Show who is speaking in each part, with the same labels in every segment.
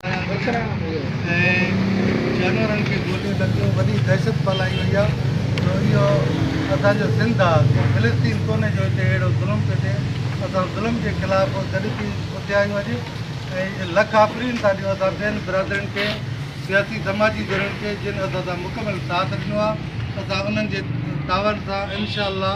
Speaker 1: ۽ جانورن کي گوليون لڳيون وڏي دهشت ڦهلائي وئي آهي جو اهو اسان جو سنڌ آهي ڪو فلسطين ڪونهي جو هتي اهڙو ظلم ٿو ٿئي اسان ظلم جي خلاف گڏ ٿي اٿيا آهيون اڄ ۽ لک آفرين ٿا ڏيون اسان ٻين برادرين کي سياسي سماجي ڌرين کي جن اسان سان مڪمل ساٿ ڏنو آهي اسان انهن جي تعاون سان انشاء الله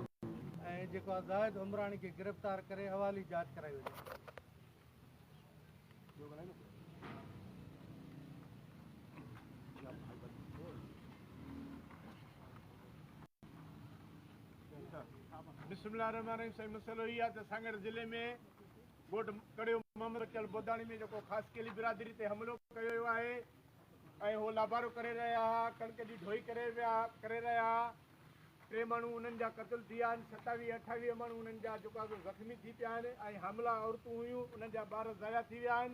Speaker 1: ۽ جيڪو آ زاهد عمراڻي کي گرفتار ڪري حوالي جاچ ڪرائي وڃي.
Speaker 2: بسم الله الرحمن الرحيم سائين مسئلو هي آهي ته سانگهڙ ضلعي ۾ ڳوٺ ڪڙيو محمد بچل بوداڻي ۾ جيڪو خاص ڪيلي برادري تي حملو ڪيو ويو آهي ۽ هو لابارو ڪري رهيا ها ڪڻڪ جي ڍوئي ڪري ويا ڪري رهيا ها ٽي ماڻهو انهن جا قتل ٿي ويا آهن، ستاويهه اٺاويهه ماڻهو انهن جا جيڪا سو زخمي ٿي پيا آهن ۽ حاملا عورتون هيون انهن جا ٻار ضايع ٿي ويا آهن،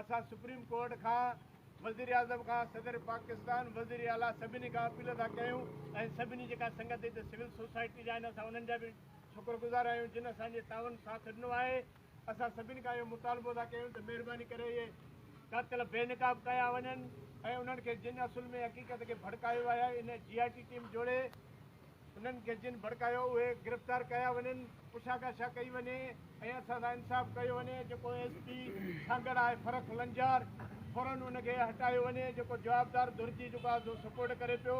Speaker 2: اسان سپريم ڪورٽ کان، وزيراعظم کان، صدر پاڪستان، وزير اعليٰ سڀني کان اپيل ٿا ڪيون ۽ سڀني جيڪا سنگت هتي سول سوسائٽي جا آهن اسان انهن جا به شڪرگذار آهيون جن اسان جي تعاون ساٿ ڏنو آهي. اسان سڀني کان اهو مطالبو ٿا ڪيون ته مهرباني ڪري اهي قاتل بي نقاب ڪيا وڃن ۽ انهن کي جن اصل ۾ حقيقت کي ڀڙڪايو آهي ان جي آء ٽي ٽيم جوڙي انهن کي جن ڀڙڪايو اهي گرفتار ڪيا وڃن پڇاڳاڇا ڪئي وڃي ۽ اسان سان انصاف ڪيو وڃي جيڪو ايس پي سانگهڙ آهي فرخ لنجار فورن ان کي هٽايو وڃي جيڪو جوابدار ڌر جي جيڪو آهي سو سپورٽ ڪري پيو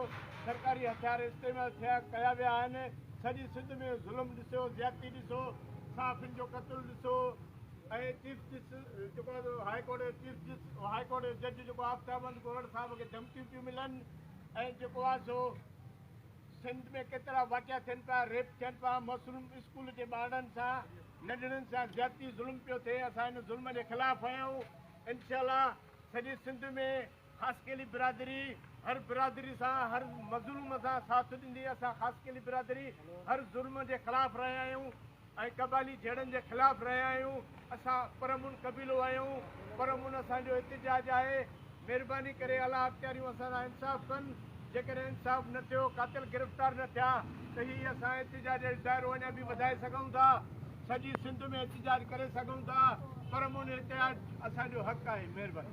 Speaker 2: سرڪاري هٿيار استعمال ٿيا ڪيا ويا آهن سڄي سنڌ ۾ ظلم ڏسيو زيادتي ڏسو صحافين جو قتل ڏسو ۽ چيف جسٽس جيڪو هاء ڪورٽ جي چيف جسٽس هاء ڪورٽ جي جج جيڪو آفتاب احمد گوهر صاحب کي ڌمڪيون پيون ملن ۽ جيڪو آهي سو سنڌ ۾ ڪيترا واقعا ٿين پيا ريپ ٿين پيا معصوم اسڪول جي ٻارڙن سان ننڍڙن سان زيادتي ظلم پيو ٿئي اسان هن ظلم جي خلاف آهيون انشاء الله سڄي سنڌ ۾ خاصخيلي برادري هر برادري سان هر مظلوم سان ساٿ ڏيندي اسان خاصخيلي برادري هر ظلم جي خلاف رهيا آهيون ۽ قبائلي جهيڙن جي خلاف رهيا آهيون اسان پرامن قبيلو آهيون پرامن اسان جو احتجاج آهي مهرباني ڪري اعليٰ اختياريون اسان سان انصاف ڪن. جيڪڏهن انصاف نه ٿيو، قاتل گرفتار نه ٿيا ته هي اسان احتجاج جو دائرو اڃا به وڌائي سگهون ٿا، سڄي سنڌ ۾ احتجاج ڪري سگهون ٿا، پرامن احتجاج اسان جو حق آهي. مهرباني.